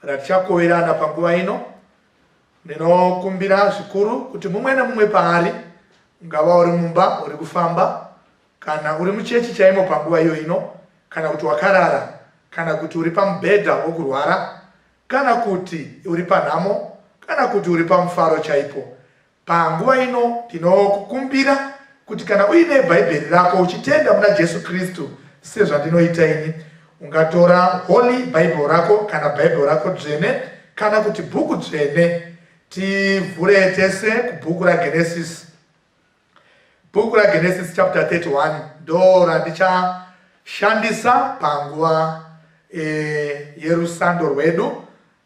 Kana tichakoverana panguva ino, ndinokumbira zvikuru kuti mumwe nemumwe paari, ungava uri mumba, uri kufamba, kana uri muchechi chaimo panguva iyo ino, kana kuti wakarara, kana kuti uri pamubhedha wokurwara, kana kuti uri panhamo, kana kuti uri pamufaro chaipo, Panguva ino ndinokukumbira kuti kana uine Bhaibheri rako uchitenda muna Jesu Kristu sezvandinoita ini, ungatora Holy Bible rako kana Bible rako dzvene kana kuti bhuku dzvene. Tivhure tese kubhuku raGenesis. Bhuku raGenesis chapter 31 ndo randichashandisa panguva e, yerusando rwedu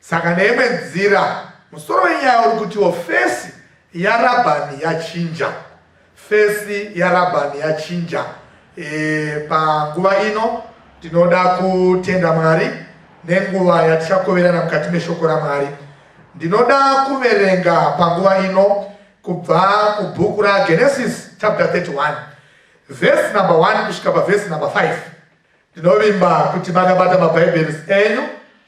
Saka neimwe nzira, musoro wenyaya uri kutiwo fesi yaRabhani yachinja. Fesi yaRabhani yachinja. E, panguva ino tinoda kutenda Mwari nenguva yatichakoverana mukati meshoko raMwari. Ndinoda kuverenga panguva ino kubva kubhuku raGenesis chapter 31 vhesi number 1 kusvika pavhesi number 5. Ndinovimba kuti makabata maBhaibheri enyu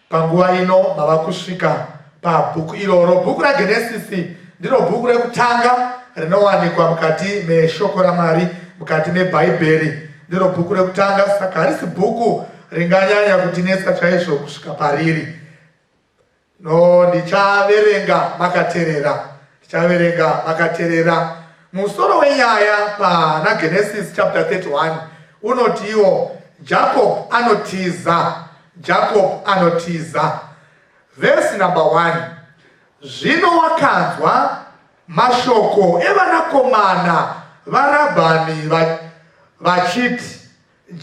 panguva ino mava kusvika pabhuku iroro. Bhuku raGenesisi ndiro bhuku rekutanga rinowanikwa mukati meshoko raMwari, mukati meBhaibheri. Ndiro bhuku rekutanga, saka harisi bhuku ringanyanya kutinetsa chaizvo kusvika pariri. No, ndichaverenga makaterera. Ndichaverenga makaterera. Musoro wenyaya pana Genesis chapter 31 unotiwo Jacob anotiza. Jacob anotiza. Verse number 1. Zvino wakanzwa mashoko evanakomana varabhani vachiti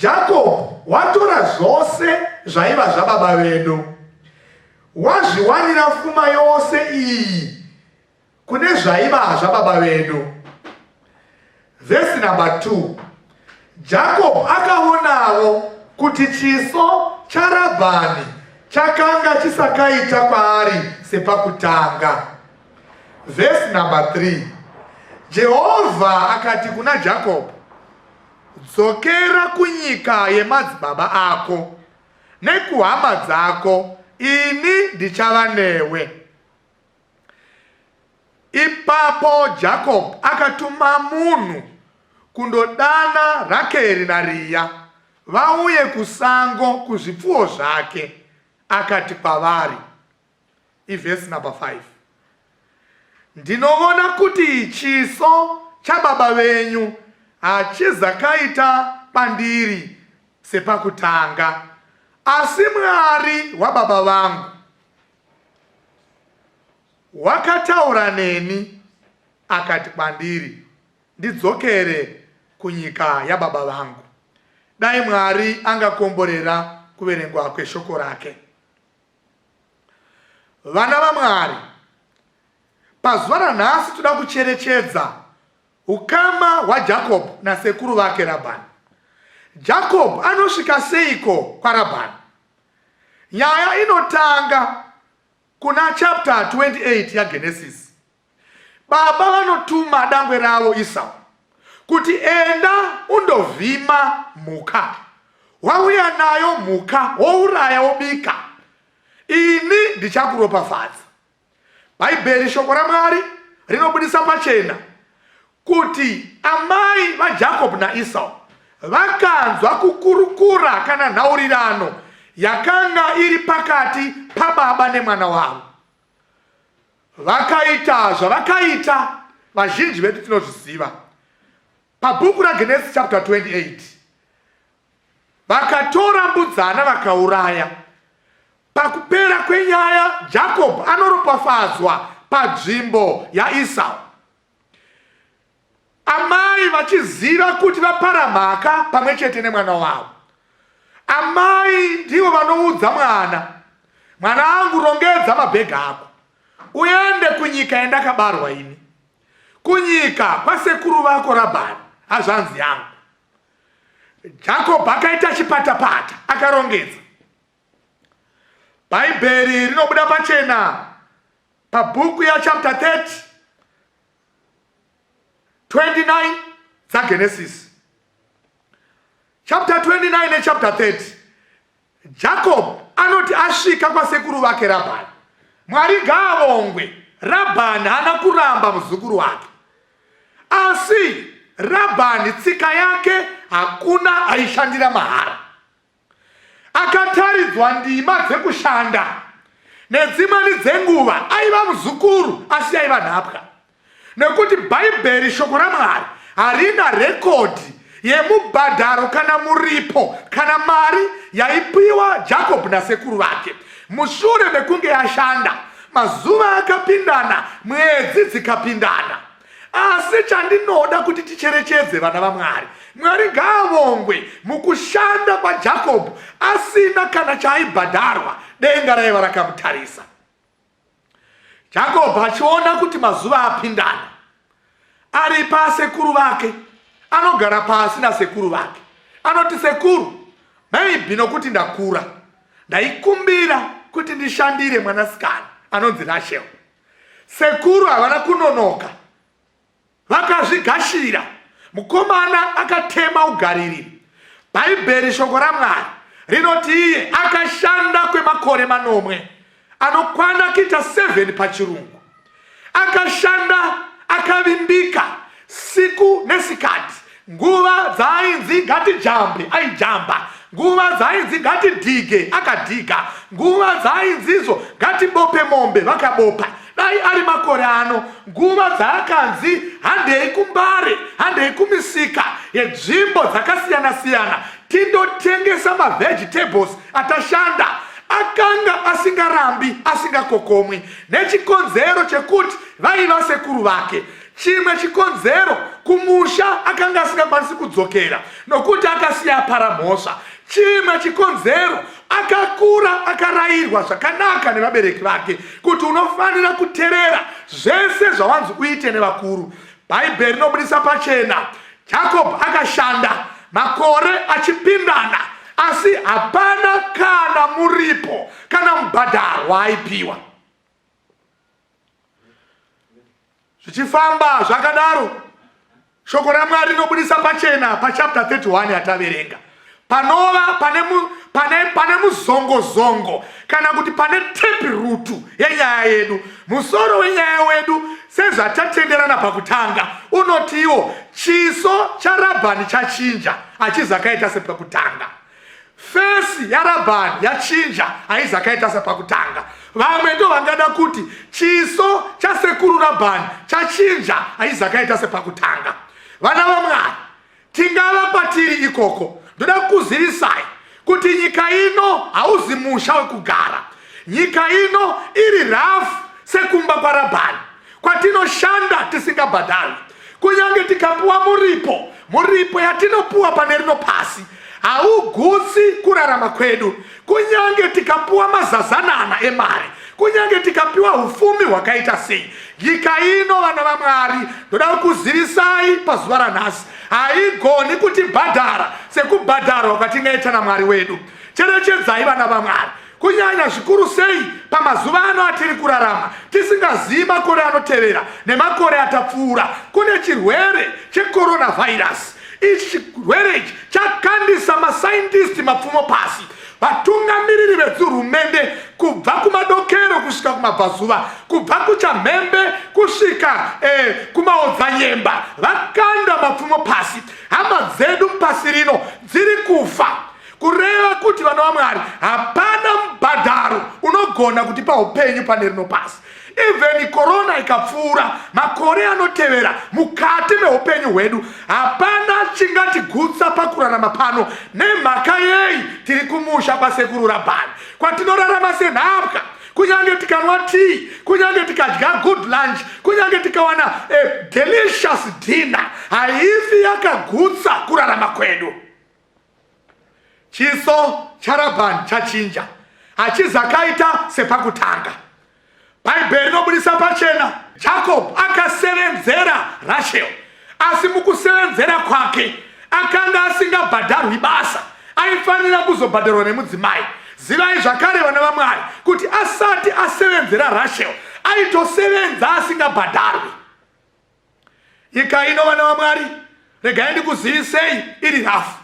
Jakob watora zvose zvaiva zvababa vedu, wazviwanira fuma yose iyi kune zvaiva zvababa vedu. Vhesi namba 2 Jakob akaonawo kuti chiso chaRabhani chakanga chisakaita kwaari sepakutanga. Vhesi namba 3 Jehovha akati kuna Jakob, Dzokera kunyika yemadzibaba ako nekuhama dzako, ini ndichava newe. Ipapo Jacob akatuma munhu kundodana Rakeri naRiya vauye kusango kuzvipfuwo zvake, akati kwavari, ivhesi number 5 ndinovona kuti chiso chababa venyu hachizakaita pandiri sepakutanga asi mwari wababa vangu wakataura neni akati kwandiri ndidzokere kunyika yababa vangu dai mwari angakomborera kuverengwa kweshoko rake Vana vaMwari, pazuva ranhasi toda kucherechedza ukama hwaJakob nasekuru vake Rabhani. Jakob anosvika seiko kwaRabhani? Nyaya inotanga kuna chapter 28 yaGenesis. Baba vanotuma dangwe ravo Isau kuti enda undovhima mhuka, wauya nayo mhuka wouraya wobika, ini ndichakuropafadza. Bhaibheri, shoko raMwari, rinobudisa pachena kuti amai vaJakob naIsau vakanzwa kukurukura kana nhaurirano yakanga iri pakati pababa nemwana wavo. Vakaita zvavakaita vazhinji vedu tinozviziva. Pabhuku raGenesi chapter 28 vakatora mbudzana vakauraya. Pakupera kwenyaya Jacob anoropafadzwa padzvimbo yaIsau. Amai vachiziva kuti vapara mhaka pamwe chete nemwana wavo. Amai ndivo vanoudza mwana, mwana angu rongedza mabhegi ako uende kunyika yandakabarwa ini, kunyika kwasekuru vako Rabhani, hazvanzi yangu. Jakob akaita chipatapata akarongedza. Bhaibheri rinobuda pachena pabhuku yachapter 30 29 dzaGenesis chapter 29 nechapter 30 jacob anoti asvika kwasekuru vake rabhani mwari ngaavongwe rabhani haana kuramba muzukuru wake asi rabhani tsika yake hakuna aishandira mahara Akataridzwa ndima dzekushanda nedzimweni dzenguva aiva muzukuru asi yaiva nhapwa nekuti Bhaibheri shoko raMwari harina rekodhi yemubhadharo kana muripo kana mari yaipiwa Jacob nasekuru vake mushure mekunge yashanda mazuva akapindana mwedzi dzikapindana asi chandinoda kuti ticherechedze vana vamwari mwari ngaavongwe mukushanda kwajakobho asina kana chaaibhadharwa denga raiva rakamutarisa jakobho achiona kuti mazuva apindana ari pasekuru vake anogara pasi nasekuru vake anoti sekuru maybe nokuti ndakura ndaikumbira kuti ndishandire mwanasikana anonzi rashel Sekuru havana kunonoka vakazvigashira. Mukomana akatema ugariri. Bhaibheri shoko raMwari rinoti iye akashanda kwemakore manomwe anokwana kuita 7 pachirungu. Akashanda akavimbika siku nesikati nguva dzaainzi ngatijambe aijamba nguva dzaainzi ngatidhige akadhiga nguva dzaainzizo ngatibope mombe vakabopa dai ari makore ano nguva dzaakanzi handei kumbare handei kumisika yedzvimbo dzakasiyana siyana tindotengesa mavegetables atashanda akanga asingarambi asingakokomwi nechikonzero chekuti vaiva sekuru vake Chimwe chikonzero kumusha akanga asingakwanisi kudzokera nokuti akasiya apara mhosva. Chimwe chikonzero akakura akarayirwa zvakanaka nevabereki vake kuti unofanira kuterera zvese zvawanzi uite nevakuru. Bhaibheri rinobudisa pachena Jakobho akashanda makore achipindana, asi hapana kana muripo kana mubhadharo waaipiwa. zvichifamba zvakadaro shoko ramwari rinobudisa pachena pachapta 31 yataverenga panova pane, mu, pane, pane muzongozongo kana kuti pane tepi rutu yenyaya yedu musoro wenyaya wedu sezvatatenderana pakutanga unotiwo chiso charabhani chachinja achizakaita sepakutanga fesi yarabhani yachinja haizi akaita sepakutanga vamwe ndo vangada kuti chiso chasekuru rabhani chachinja haizi akaita sepakutanga vana vamwari tingava kwatiri ikoko ndoda kukuzivisai kuti nyika ino hauzi musha wekugara nyika ino iri rafu sekumba kwarabhani kwatinoshanda tisingabhadharwi kunyange tikapuwa muripo muripo yatinopuwa pane rino pasi haugutsi kurarama kwedu kunyange tikapuwa mazazanana emari kunyange tikapiwa ufumi hwakaita sei nyika ino vana vamwari ndoda kukuzivisai pazuva ranhasi haigoni kutibhadhara sekubhadharwa kwatingaita namwari wedu cherechedzai vana vamwari kunyanya zvikuru sei pamazuva ano atiri kurarama tisingazivi makore anotevera nemakore atapfuura kune chirwere checoronavirus ichi chirwere ichi chakandisa masaindisti mapfumo pasi vatungamiriri vedzihurumende kubva kumadokero kusvika kumabvazuva kubva kuchamhembe kusvika eh, kumaodzanyemba vakanda mapfumo pasi hama dzedu pasi rino dziri kufa kureva kuti vana vamwari hapana mubhadharo unogona kuti paupenyu pane rino pasi even korona ikapfuura makore anotevera mukati meupenyu hwedu hapana chingatigutsa pakurarama pano nemhaka yei tiri kumusha kwasekuru rabhani kwatinorarama senhapwa kunyange tikanwa tii kunyange tikadya good lunch kunyange tikawana a delicious dinner haifi yakagutsa kurarama kwedu Chiso chaRabhani chachinja, hachizakaita sepakutanga. Bhaibheri rinobudisa pachena Jacob akasevenzera Rachel, asi mukusevenzera kwake akanga asingabhadharwi basa, aifanira kuzobhadharwa nemudzimai. Zivai zvakare vana vaMwari kuti asati asevenzera Rachel aitosevenza asingabhadharwi. Nyika ino vana vaMwari, regai ndikuzivisei iri rafu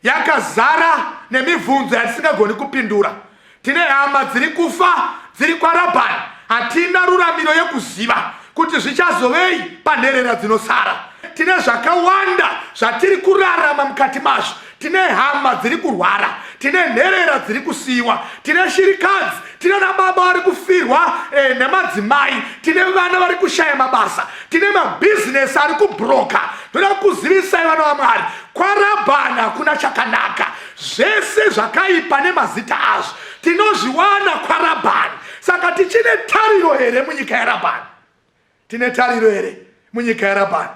yakazara nemibvunzo yatisingagoni kupindura. Tine hama dziri kufa dziri kwaRabhani, hatina ruramiro yekuziva kuti zvichazovei panherera dzinosara. Tine zvakawanda zvatiri kurarama mukati mazvo tine hama dziri kurwara tine nherera dziri kusiyiwa tine shirikadzi tine nababa vari kufirwa eh, nemadzimai tine vana vari kushaya mabasa tine mabhizinesi ari kubhuroka toda kuzivisai vana vamwari kwarabhana kuna chakanaka zvese zvakaipa nemazita azvo tinozviwana kwarabhani saka tichine tariro here munyika yarabhani Tine tariro here munyika yaRabhani?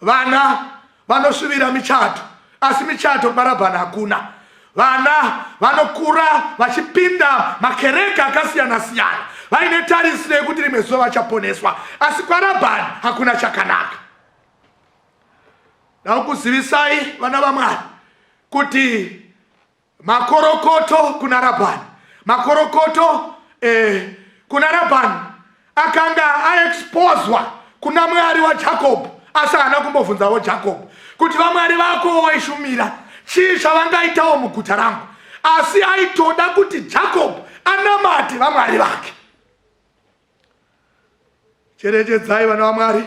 Vana vanosvibira michato, asi michato kuna Rabhani hakuna. Vana vanokura vachipinda makereke akasiyana siyana vaine tarisiro yekuti rimwe zuva vachaponeswa, asi kwaRabhani hakuna chakanaka. Ndakuzivisai vana vaMwari kuti makorokoto kuna rabhani makorokoto eh, kuna rabhani akanga aexposwa kuna mwari wajacob asi haana kumbobvunzawo jacob kuti vamwari vako waishumira chii chavangaitawo muguta rangu asi aitoda kuti jacob anamate vamwari vake Cherechedzai vana vaMwari,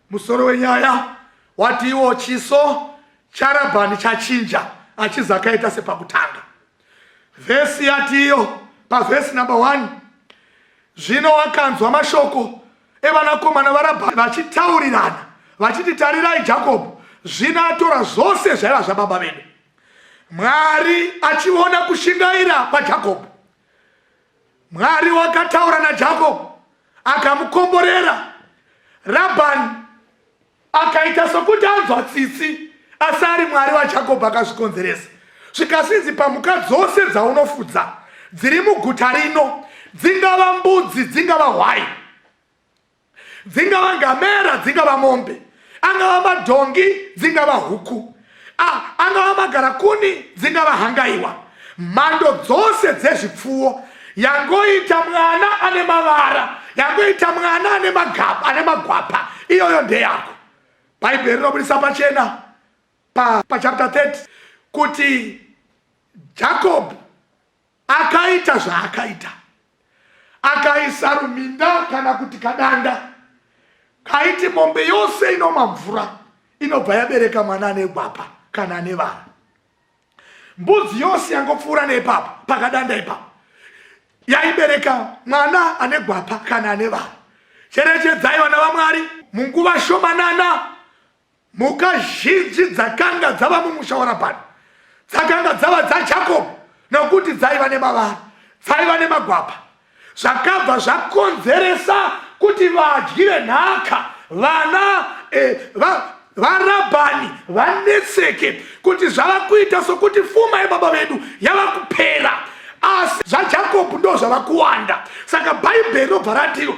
musoro wenyaya watiwo chiso charabhani chachinja achizakaita sepakutanga. Vhesi yatiyo pavhesi number one, zvino wakanzwa mashoko evanakomana varabhani vachitaurirana vachiti, tarirai Jakobho zvino atora zvose zvaiva zvababa vedu. Mwari achiona kushingaira kwaJakobho, Mwari wakataura naJakob akamukomborera. Rabhani akaita sokuti anzwa tsitsi asi ari mwari wajakob akazvikonzeresa zvikasinzi pamhuka dzose dzaunofudza dziri muguta rino dzingava mbudzi dzingava hwai dzingava ngamera dzingava mombe angava madhongi dzingava huku angava magarakuni dzingava hangaiwa mhando dzose dzezvipfuwo yangoita mwana ane mavara yangoita mwana ane magapa ane magwapa iyoyo ndeyako bhaibheri rinobudisa pachena pachapter pa 30 kuti jacob Akaita zvaakaita, akaisa ruminda kana kuti kadanda kaiti mombe yose inoma mvura inobva yabereka mwana ane gwapa kana ane vana. Mbudzi yose yangopfuura neipapa pakadanda ipapa yaibereka mwana ane gwapa kana ane vana. Cherechedzai vana vaMwari munguva shomanana Mhuka zhinji dzakanga dzava mumusha waRabhani dzakanga dzava dzaJakobho nokuti dzaiva nemavara, dzaiva nemagwapa. Zvakabva zvakonzeresa kuti vadyi venhaka vana eh, va, varabhani vanetseke kuti zvava kuita sokuti fuma yebaba vedu yava kupera asi zvajakobho ndo zvava kuwanda saka bhaibheri robva ratiro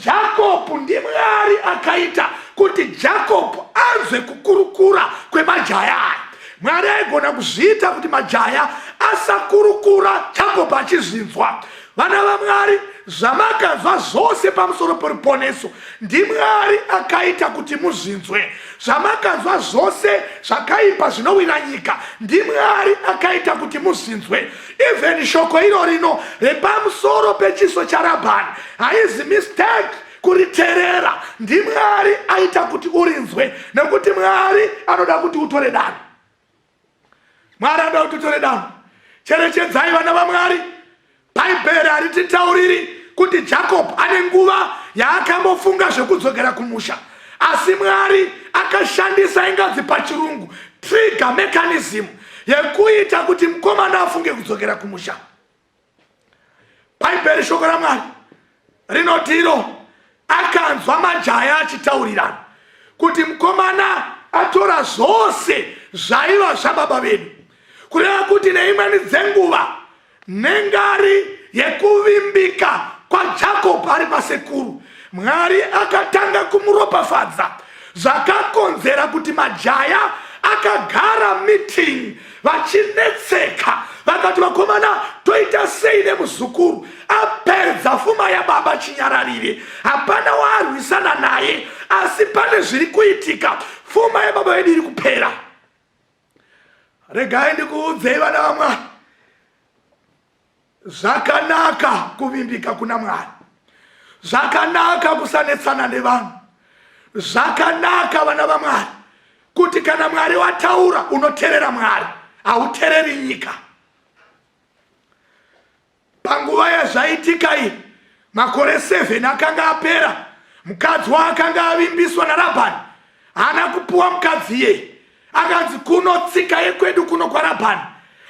Jakob ndiMwari akaita kuti Jakob anzwe kukurukura kwemajaya aya. Mwari aigona kuzviita kuti majaya asakurukura Jakob achizvinzwa. Vana vaMwari, zvamakanzwa zvose pamusoro peruponeso ndiMwari akaita kuti muzvinzwe. Zvamakanzwa zvose zvakaipa zvinowira nyika ndiMwari akaita kuti muzvinzwe. even shoko iro rino repamusoro pechiso charabhani haizi mistake kuriterera ndimwari aita kuti urinzwe nekuti mwari anoda kuti utore dano mwari anoda kuti utore dano cherechedzai vana vamwari bhaibheri harititauriri kuti jakob ane nguva yaakambofunga zvekudzokera kumusha asi mwari akashandisa ingazi pachirungu trigger mechanism yekuita kuti mukomana afunge kudzokera kumusha bhaibheri shoko ramwari rinoti iro akanzwa majaya achitaurirana kuti mukomana atora zvose zvaiva zvababa vedu kureva kuti neimweni dzenguva Nengari yekuvimbika kwaJakob ari pasekuru, Mwari akatanga kumuropafadza zvakakonzera kuti majaya akagara meeting vachinetseka vakati vakomana toita sei nemuzukuru apedza fuma yababa chinyararire hapana waarwisana naye asi pane zviri kuitika fuma yababa vedu iri kupera regai ndikuudzei vana vamwari zvakanaka kuvimbika kuna mwari zvakanaka kusanetsana nevanhu zvakanaka vana vamwari kuti kana mwari wataura unoterera mwari hautereri nyika Panguva yazvaitika iyi, makore 7 akanga apera. Mukadzi waakanga avimbiswa naRabhani haana kupuwa mukadzi iyeye. Akanzi kuno tsika yekwedu kuno kwaRabhani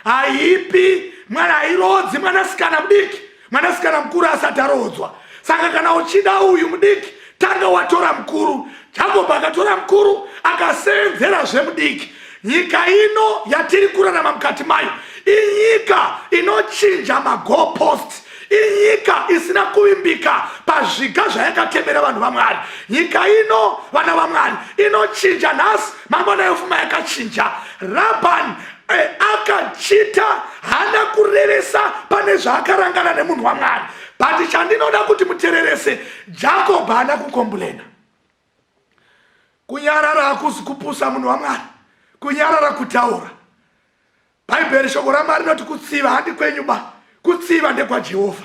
haipi mwana, hairoodzi mwanasikana mudiki mwanasikana mukuru asati aroodzwa. Saka kana uchida uyu mudiki tanga watora mukuru jacob akatora mukuru akaseenzera zvemudiki nyika ino yatiri kurarama mukati mayo inyika inochinja magopost inyika isina kuvimbika pazviga zvayakatemera vanhu vamwari nyika ino vana vamwari inochinja nhasi mangwana yofuma yakachinja rabhan eh, akachita hana kurevesa pane zvaakarangana nemunhu wamwari but chandinoda kuti mutererese Jacob haana kukombulena. Kunyarara hakusi kupusa munhu waMwari. Kunyarara kutaura. Bhaibheri shoko raMwari rinoti kutsiva handi kwenyu ba. Kutsiva ndekwaJehovha.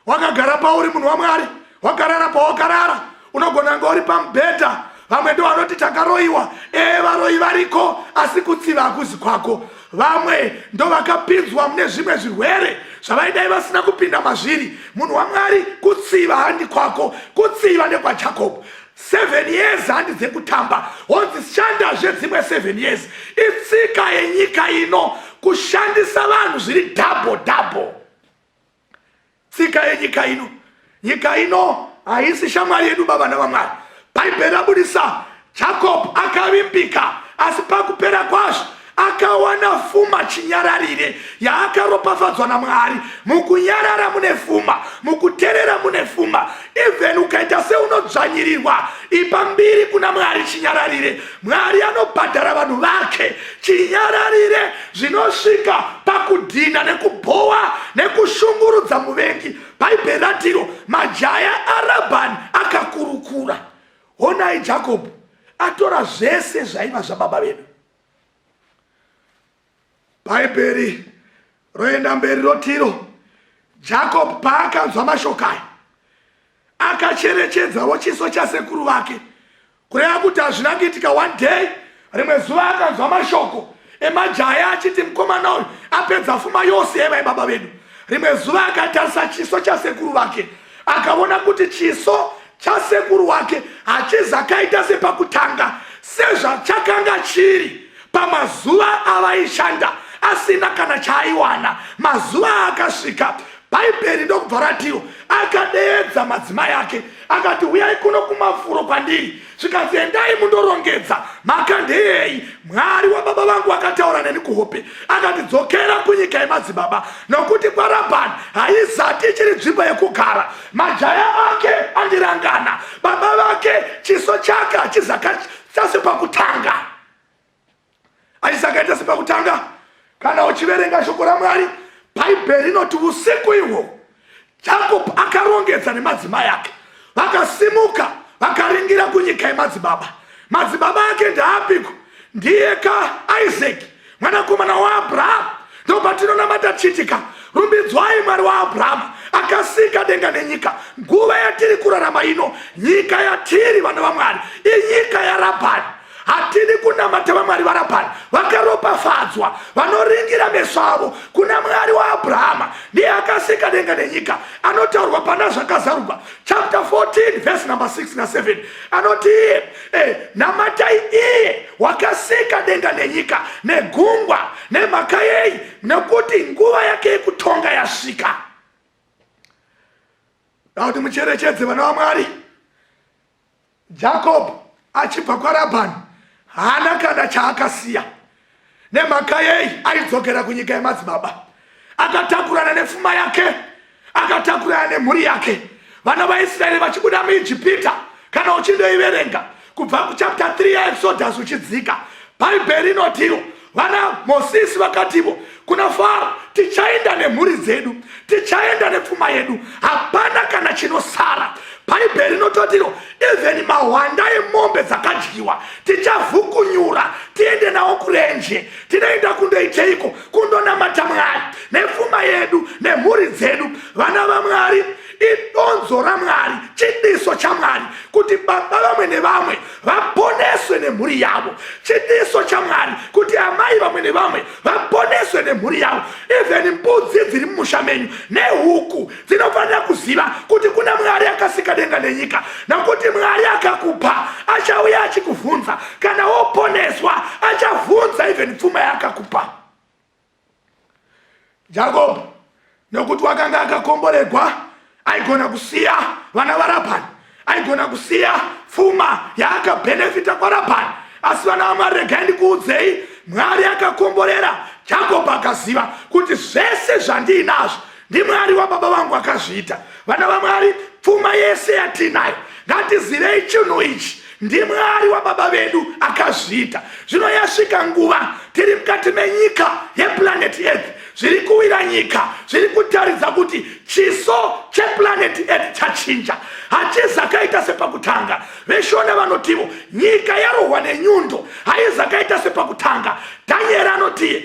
Wakagara pauri munhu waMwari. Wakarara pawakarara. Unogona kunge uri pamubhedha vamwe ndo vanoti takaroyiwa ee varoyi variko asi kutsiva hakuzi kwako vamwe ndovakapinzwa mune zvimwe zvirwere zvavaidai vasina kupinda mazviri munhu wamwari kutsiva handi kwako kutsiva nekwajakob seven years handi dzekutamba honzi shandazve dzimwe seven years itsika yenyika ino kushandisa vanhu zviri double double tsika yenyika ino nyika ino haisi shamwari yedu baba navamwari bhaibheri rabudisa jacob akavimbika asi pakupera kwazvo akawana fuma chinyararire yaakaropafadzwa namwari mukunyarara mune fuma mukuterera mune fuma even ukaita seunodzvanyirirwa ipa mbiri kuna mwari chinyararire mwari anobhadhara vanhu vake chinyararire zvinosvika pakudhina nekubhowa nekushungurudza muvengi bhaibheri ratiro majaya arabhani akakurukura honai jakobho atora zvese zvaiva zvababa vedu Bhaibheri roenda mberi rotiro Jacob paakanzwa mashoko aya akacherechedzawo chiso chasekuru vake kureva kuti hazvina kuitika one day rimwe zuva akanzwa mashoko emajaya achiti mukomana uyu apedza fuma yose yevai baba vedu rimwe zuva akatarisa chiso chasekuru vake akaona kuti chiso chasekuru wake hachizi akaita sepakutanga sezvachakanga chiri pamazuva avaishanda asina kana chaaiwana mazuva aakasvika bhaibheri ndokubva ratiwo akadeedza madzimai ake akati huyai kuno kumafuro kwandiri zvikanzi endai mundorongedza mhaka ndeyei mwari wababa vangu vakataura neni kuhope akati dzokera kunyika yemadzibaba nokuti kwarabhani haizati ichiri nzvimbo yekugara majaya ake andirangana baba vake chiso chake hachizakaita sepakutanga hachizakaita sepakutanga kana uchiverenga shoko ramwari bhaibheri rinoti usiku ihwo jakob akarongedza nemadzimai ake vakasimuka vakaringira kunyika yemadzibaba madzibaba ake ndaapiko ndiye ka isaki mwanakomana waabrahamu ndopatinonamata tichitika rumbidzwai mwari waabrahamu akasika denga nenyika nguva yatiri kurarama ino nyika yatiri vana vamwari inyika yarabhani hatidi kunamata vamwari varabhani vakaropafadzwa vanoringira meso avo kuna mwari waabrahama ndiye akasika denga nenyika anotaurwa pana zvakazarurwa chapter 14 vhesi number 6 na 7 anoti Eh, namatai iye wakasika denga nenyika negungwa nemhaka yei nekuti nguva yake yekutonga yasvika dakuti mucherechedze vana vamwari jacob achibva kwarabhani haana kana chaakasiya Nemhaka yei aidzokera kunyika yemadzibaba? Akatakurana nefuma yake, akatakurana nemhuri yake. Vana vaIsraeri vachibuda muIjipita, kana uchindoiverenga kubva kuchapta 3 yaExodus uchidzika, Bhaibheri inotiwo vana Mosisi vakativo kuna faro tichaenda nemhuri dzedu tichaenda nepfuma yedu hapana kana chinosara bhaibheri rinototiro even mahwanda emombe dzakadyiwa tichavhukunyura tiende nawo kurenje tinoenda kundoiteiko kundonamata mwari nepfuma yedu nemhuri dzedu vana vamwari idonzo ramwari chidiso chamwari kuti baba vamwe nevamwe vaponeswe nemhuri yavo chidiso chamwari kuti amai vamwe nevamwe vaponeswe nemhuri yavo even mbudzi dziri mumusha menyu nehuku dzinofanira kuziva kuti kuna mwari akasika denga nenyika nokuti mwari akakupa achauya achikuvhunza kana woponeswa achavhunza even pfuma yaakakupa jakobo nokuti wakanga akakomboregwa aigona kusiya vana varabhani aigona kusiya pfuma yaakabhenefita kwarabhani asi vana vamwari regai ndikuudzei mwari akakomborera jakobho akaziva kuti zvese zvandiinazvo ndimwari wababa vangu akazviita vana vamwari pfuma yese yatiinayo ngatizivei chinhu ichi ndimwari wababa vedu akazviita zvino yasvika nguva tiri mukati menyika yeplanet earth zviri kuwira nyika zviri kutaridza kuti chiso cheplanet earth chachinja hachizakaita sepakutanga veshona vanotivo nyika yarohwa nenyundo haizakaita sepakutanga danieri anotiye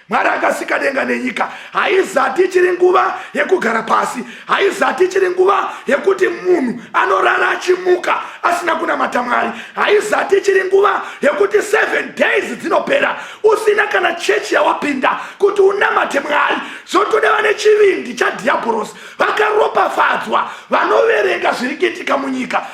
mwari akasika denga nenyika haizati ichiri nguva yekugara pasi haizati ichiri nguva yekuti munhu anorara achimuka asina kunamata mwari haizati ichiri nguva yekuti seven days dzinopera usina kana chechi yawapinda kuti unamate mwari zvotoda vane chivindi chadhiabhorosi vakaropafadzwa vanoverenga zviri kuitika munyika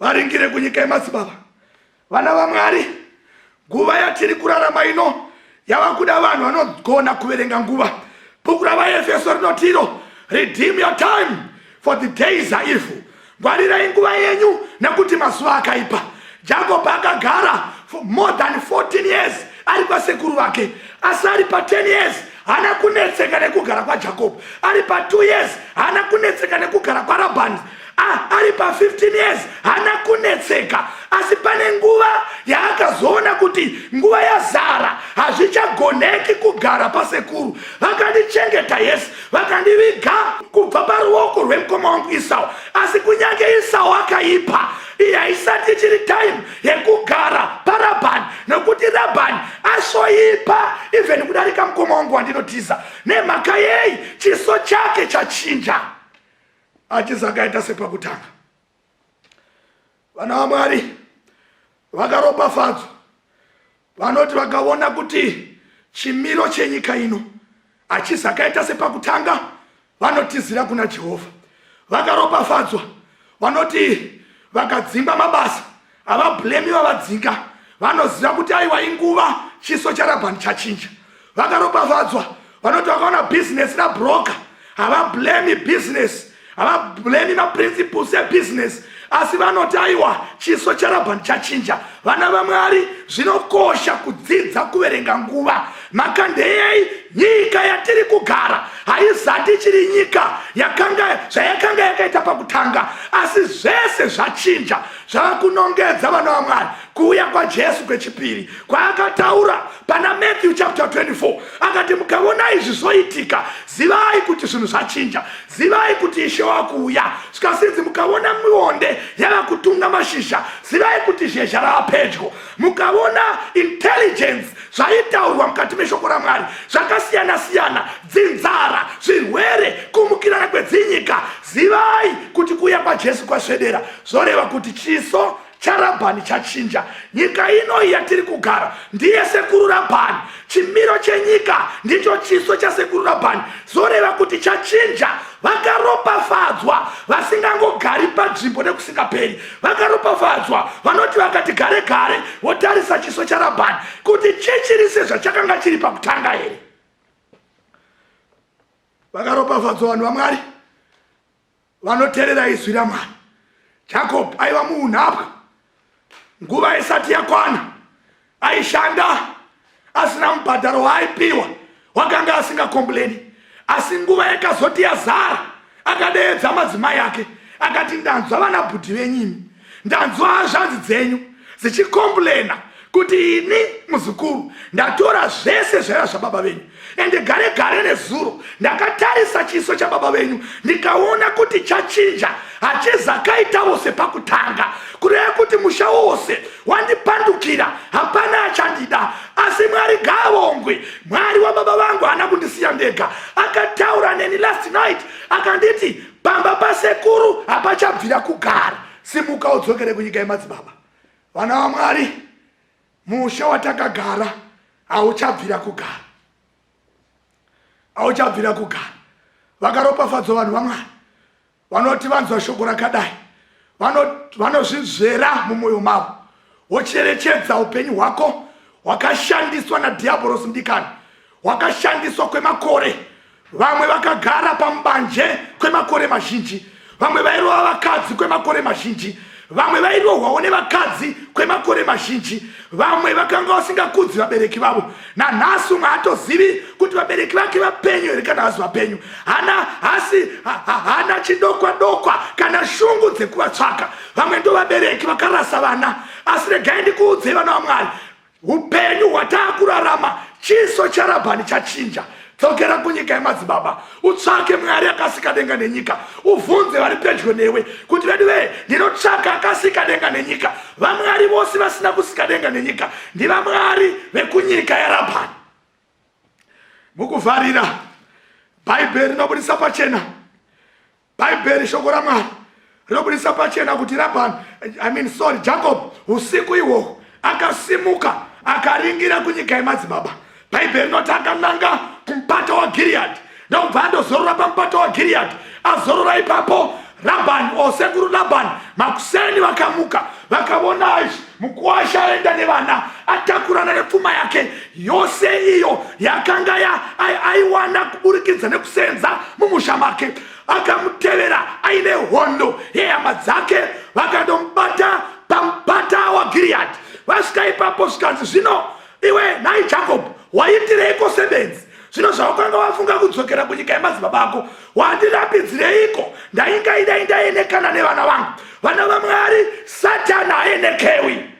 varingire kunyika yemadzibaba vana vamwari nguva yatiri kurarama ino yava kuda vanhu vanogona kuverenga nguva bhuku ravaefeso rinotiro redeem your time for the days are evil ngwarirai nguva yenyu nekuti mazuva akaipa jacob akagara for more than 14 years ari kwasekuru vake asi ari pa 10 years hana kunetseka nekugara kwajakobho ari pa 2 years hana kunetseka nekugara kwarabhani ah, ari pa 15 years hana kunetseka asi pane nguva yaakazoona kuti nguva yazara hazvichagoneki kugara pasekuru vakandichengeta yes vakandiviga kubva paruoko rwemukoma wangu isau asi kunyange isau akaipa iyi haisati ichiri time yekugara parabhani nokuti rabhani asvoipa even kudarika mukoma wangu wandinotiza nemhaka yei chiso chake chachinja achizi akaita sepakutanga vana vamwari vakaropafadzwa Vanoti vakaona kuti chimiro chenyika ino hachizakaita sepakutanga vanotizira kuna Jehovha. Vakaropafadzwa vanoti vakadzingwa mabasa havablemi vavadzinga vanoziva kuti aiwa inguva chiso charabhani chachinja vakaropafadzwa vanoti vakaona bhizinesi rabroka havablemi bhizinesi havablemi maprinciples ebhizinesi asi vanoti aiwa chiso charabhani chachinja vana vamwari zvinokosha kudzidza kuverenga nguva mhaka ndeyei nyika yatiri kugara haizati ichiri nyika yakanga zvayakanga yakaita pakutanga asi zvese zvachinja zvava kunongedza vana vamwari kuuya kwajesu kwechipiri kwaakataura pana matthew chapter 24 akati mukavona izvi zvoitika zivai kuti zvinhu zvachinja zivai kuti ishe wakuuya svikasinzi mukavona mionde yava kutunga mashizha zivai kuti zhezha rava pedyo mukavona intelligence zvaitaurwa mukati meshoko ramwari zvakasiyana siyana dzinzara zvirwere kumukirana kwedzinyika zivai kuti kuuya kwajesu kwasvedera zvoreva kuti chiso charabhani chachinja nyika ino iya tiri kugara ndiye sekuru rabhani chimiro chenyika ndicho chiso chasekuru rabhani zoreva kuti chachinja vakaropafadzwa vasingangogari panzvimbo nekusingaperi vakaropafadzwa vanoti vakati gare gare votarisa chiso charabhani kuti chichiri sezvachakanga chiri pakutanga here vakaropafadzwa vanhu vamwari vanoterera izwi ramwari jacob aiva muunhapwa nguva isati yakwana aishanda asina mubhadharo waaipiwa wakanga asingakombureni asi nguva yakazoti yazara akadeedza madzimai ake akati ndanzwa vana bhudhi venyimi ndanzwa hazvanzi dzenyu dzichikomburena kuti ini muzukuru ndatora zvese zvaiva zvababa venyu ende gare gare nezuro ndakatarisa chiso chababa venyu ndikaona kuti chachinja hachizakaitavo sepakutanga kureva kuti musha wose wandipandukira hapana achandida asi mwari gavongwe mwari wababa vangu haana kundisiya ndega akataura neni last night akanditi pamba pasekuru hapachabvira kugara simuka udzokere kunyika yemadzibaba vana vamwari musha watakagara hauchabvira kugara hauchabvira kugara vakaropafadzwa vanhu vamwari vanoti vanzwa shoko rakadai vanozvizvera mumwoyo mavo wocherechedza upenyu hwako hwakashandiswa nadhiabhorosi mudikani hwakashandiswa kwemakore vamwe vakagara pambanje kwemakore mazhinji vamwe vairova vakadzi kwemakore mazhinji vamwe vairohwawo nevakadzi kwemakore mazhinji vamwe vakanga vasingakudzi vabereki vavo nanhasi umwe haatozivi kuti vabereki vake vapenyu here kana hasi vapenyu hana hasi hana chidokwa dokwa kana shungu dzekuvatsvaka vamwe ndo vabereki vakarasa vana asi regai ndikuudzei vana vamwari upenyu hwataakurarama chiso charabhani chachinja dzokera kunyika yemadzibaba utsvake mwari akasika denga nenyika uvhunze vari pedyo newe kuti vedu vee ndinotsvaka akasika denga nenyika vamwari vose vasina kusika denga nenyika ndivamwari vekunyika yarabhani mukuvharira bhaibheri rinobudisa pachena bhaibheri shoko ramwari rinobudisa pachena kuti rabhani i mean sorry jacob usiku ihwohwo akasimuka akaringira kunyika yemadzibaba bhaibheri rinoti akananga kumupato wagiriyadhi ndokubva andozorora pamupato wagiriyadhi azorora ipapo rabhani o sekuru rabhani makuseni vakamuka vakavona izvi Mukuwasha aenda nevana atakurana nepfuma yake yose iyo yakanga aiwana kuburikidza nekusenza mumusha make. Akamutevera aine hondo yehama dzake vakandomubata pamupata waGiriyadhi. Vasvika ipapo zvikanzi, zvino iwe nhai Jakobho waitireiko sebenzi? zvino zvaukanga wafunga kudzokera kunyika yemadzibaba ako wandirambidzireiko ndainga ida indaenekana nevana vangu vana vamwari satani aenekewi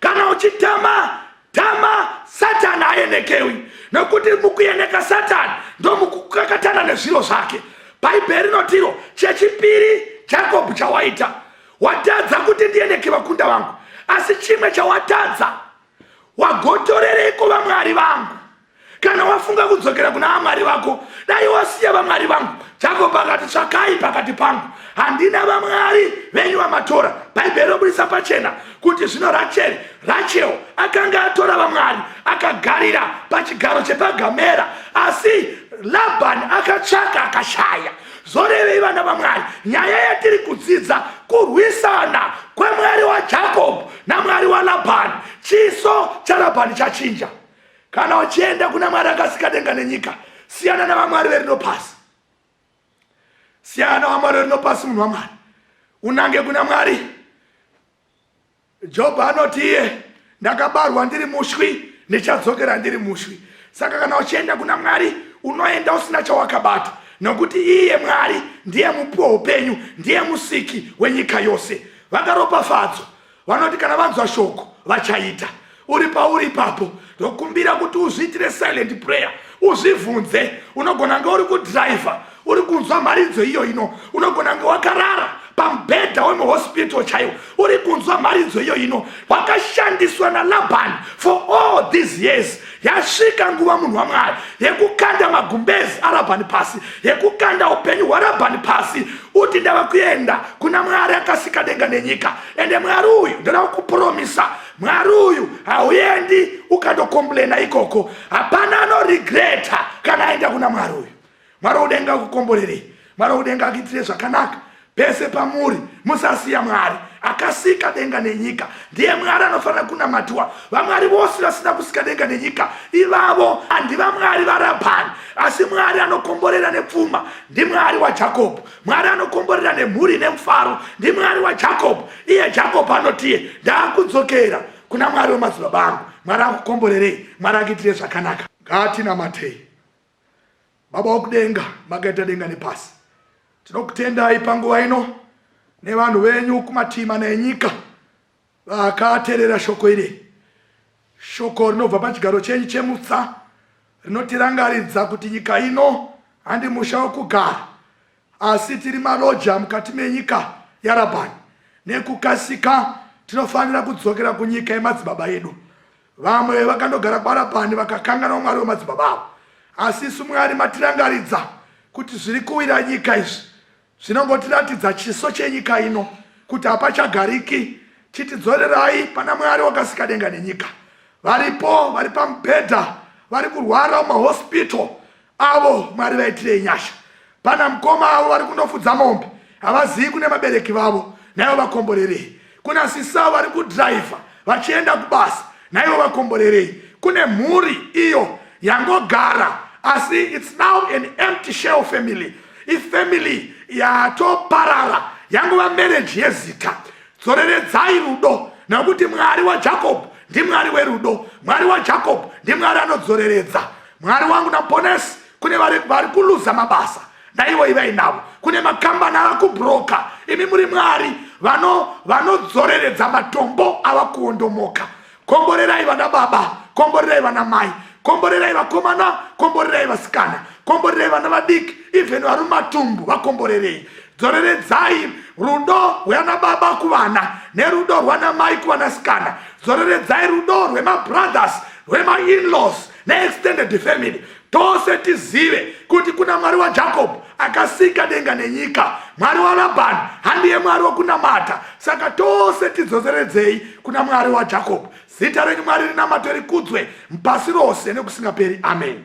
kana uchitama tama satani aenekewi nokuti mukueneka satani ndomukukakatana nezviro zvake bhaibheri rinotiro chechipiri jakobho chawaita watadza kuti ndieneke vakunda vangu asi chimwe chawatadza wagotorereiko vamwari vangu kana wafunga kudzokera kuna vamwari vako dai wasiya vamwari vangu jakob akati tsvakai pakati pangu handina vamwari venyu vamatora bhaibheri roburitsa pachena kuti zvino racheri rachel akanga atora vamwari akagarira pachigaro chepagamera asi labhani akatsvaka akashaya zvorevei vana vamwari nyaya yatiri kudzidza kurwisana kwemwari wajakob namwari walabhani chiso charabhani chachinja kana uchienda kuna mwari akasika denga nenyika siyana navamwari verino pasi siyana navamwari verino pasi munhu wamwari unange kuna mwari jobho anoti iye ndakabarwa ndiri mushwi ndichadzokera ndiri mushwi saka kana uchienda kuna mwari unoenda usina chawakabata nokuti iye mwari ndiye mupi weupenyu ndiye musiki wenyika yose vakaropafadzwa vanoti kana vanzwa shoko vachaita uri pauri ipapo ndokumbira kuti uzviitire silent prayer uzvivhunze unogona nge uri kudhiraivha uri kunzwa mharidzo iyo ino unogona nge wakarara pamubhedha wemuhospital chaiwo uri kunzwa mharidzo iyo ino wakashandiswa nalabhani for all these years yasvika nguva munhu wamwari yekukanda magumbezi arabhani pasi yekukanda upenyu hwarabhani pasi uti ndava kuenda kuna mwari akasika denga nenyika ende mwari uyu ndoda kukupromisa mwari uyu hauendi ukandokomblena ikoko hapana anorigreta kana aenda kuna mwari uyu Mwari wokudenga akukomborerei. Mwari wokudenga akuitire zvakanaka pese pamuri musasiya mwari akasika denga nenyika ndiye mwari anofanira kunamatiwa vamwari vose vasina kusika denga nenyika ivavo andi vamwari varabhani asi mwari anokomborera nepfuma ndimwari wajakobho mwari anokomborera nemhuri nemufaro ndimwari wajakobho iye jakobho anotiye ndaakudzokera kuna mwari wemadzibaba angu mwari akukomborerei mwari akuitire zvakanaka ngatinamatei Baba wokudenga makaita denga nepasi, tinokutendai panguva ino nevanhu venyu kumativi mana enyika vakaterera shoko iri, shoko rinobva pachigaro chenyu chemutsa rinotirangaridza kuti nyika ino handi musha wokugara, Asi tiri maroja mukati menyika yaRabhani. Nekukasika tinofanira kudzokera kunyika yemadzibaba edu. Vamwe vakandogara kwaRabhani vakakanganwa Mwari wemadzibaba avo. Asi isu Mwari matirangaridza kuti zviri kuwira nyika izvi zvinongotiratidza chiso chenyika ino kuti hapachagariki. Chitidzorerai pana Mwari wakasika denga nenyika. Varipo vari pamubhedha vari kurwara mumahospital avo mwari vaitirei nyasha pana mukoma avo vari kunofudza mombe havazivi kune vabereki vavo naivo vakomborerei kuna sisavo vari kudhiraivha vachienda kubasa naivo vakomborerei kune mhuri iyo yangogara asi its now an empty shell family ifamily yatoparara yangova mereji yezita dzoreredzai rudo nokuti mwari wajacob ndimwari werudo mwari wajacob ndimwari anodzoreredza mwari wangu naponesi kune vari kuluza mabasa ndaivo ivai navo kune makambani ava kubroka imi muri mwari vanodzoreredza vano matombo ava kuondomoka komborerai vana baba komborerai vana mai komborerai vakomana komborerai vasikana komborerai vana vadiki even vari mumatumbu vakomborerei dzoreredzai rudo rwana baba kuvana nerudo rwana mai kuvanasikana dzoreredzai rudo rwemabrothers rwemainlaws neextended family tose tizive kuti kuna mwari wajacob akasika denga nenyika mwari walabhani handiye mwari wokunamata saka tose tidzoseredzei kuna mwari wajacob zita renyu mwari rinamato rikudzwe mpasi rose nekusingaperi ameni